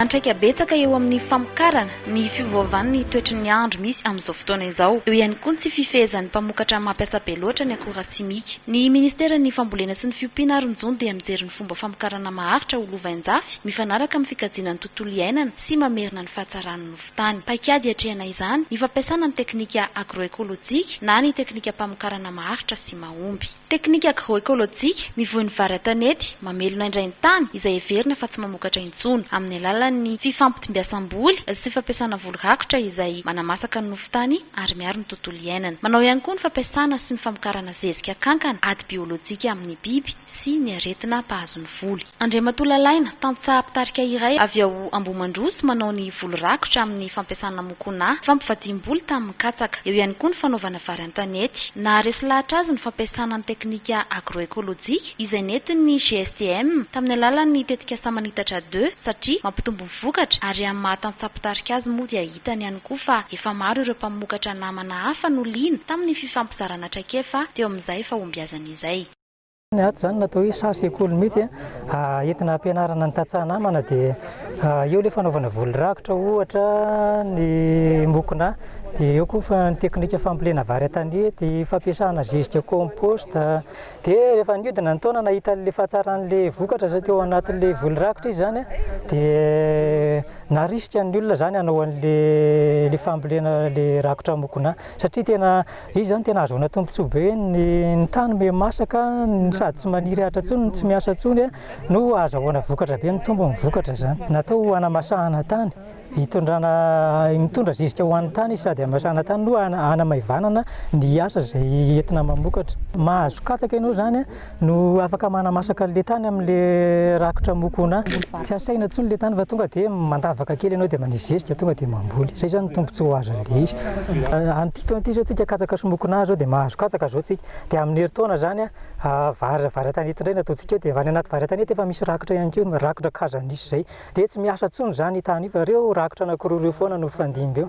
Antraika betsaka eo amin'ny famokarana ny fiovaovan'ny toetry ny andro misy amin'izao fotoana izao. Eo ihany koa ny tsy fifehezan'ny mpamokatra mampiasa be loatra ny akora simika. Ny Ministeran'ny Fambolena sy ny Fiompiana ary ny Jono dia mijery ny fomba famokarana maharitra ho lovain-jafy mifanaraka amin'ny fikajiana ny tontolo iainana. tontolo iainana sy mamerina ny fahatsaran'ny nofon-tany. Paikady hiatrehana izany ny fampiasana ny teknika agroekolojika na ny teknikam-pamokarana maharitra sy mahomby. Teknika agroekolojika mivoy ny vary an-tanety mamelona indray ny tany izay heverina fa tsy mamokatra intsony, amin'ny alalan'ny fifampitombiasam-boly sy fampiasana voly rakotra izay manamasaka ny nofon-tany ary miaro ny tontolo iainana. Manao ihany koa ny fampiasana sy ny famokarana zezika kankana ady biolojika amin'ny biby sy ny aretina mpahazo ny voly. Andriamatoa Lalaina, tantsaha mpitarika iray avy ao Ambohimandroso manao ny voly rakotra amin'ny fampiasana mokonà, fampivadiam-boly tamin'ny katsaka. Eo ihany koa ny fanaovana vary an-tanety. Naharesy lahatra azy ny fampiasana ny teknika agro-ekolojika izay nentin'ny GSTM tamin'ny alalan'ny tetikasa Manitatra deux satria mampitombo ny vokatra ary amin'ny maha tantsaha mpitarika azy moa dia hitany ihany koa fa efa maro ireo mpamokatra namana hafa no liana tamin'ny fifampizarana traikefa teo amin'izay fahombiazany izay. Ny ato izany natao hoe saha sekoly mihitsy entina hampianarana ny tantsaha namana dia eo ilay fanaovana voly rakotra ohatra ny mokona dia eo koa fa ny teknika fambolena vary an-tanety, fampiasana zezika composte dia rehefa niodina ny taona nahita an'ilay fahatsaran'ilay vokatra izay teo anatin'ilay voly rakotra izy izany dia narisika ny olona izany hanao an'ilay ilay fambolena ilay rakotra mokona satria tena Izy izao no tena ahazoana tombontsoa be, ny ny tany miha masaka, ny sady tsy maniry ahitra intsony, ny tsy miasa intsony no ahazahoana vokatra be, mitombo ny vokatra izany. Natao ho hanamasahana tany, hitondrana, mitondra zezika ho an'ny tany izy sady hamasahana tany no hanamaivanana ny asa izay entina mamokatra. Mahazo katsaka ianao izany no afaka manamasaka an'le tany amin'le rakotra mokona. Tsy asaina intsony le tany fa tonga dia mandavaka kely ianao dia manisy zesy dia tonga dia mamboly. Zay zany ny tombontsoa ho azon'le izy. An'ity taona ity zao tsika katsaka sy mokonà zao dia mahazo katsaka zao tsika. Dia amin'ny herintaona zany vary vary an-tanety indray no ataontsika eo dia any anaty vary an-tanety efa misy rakotra ihany koa, rakotra kazo anisy zay. Dia tsy miasa intsony zany io tany io fa reo rakotra anakiroa reo foana no mifandimby eo.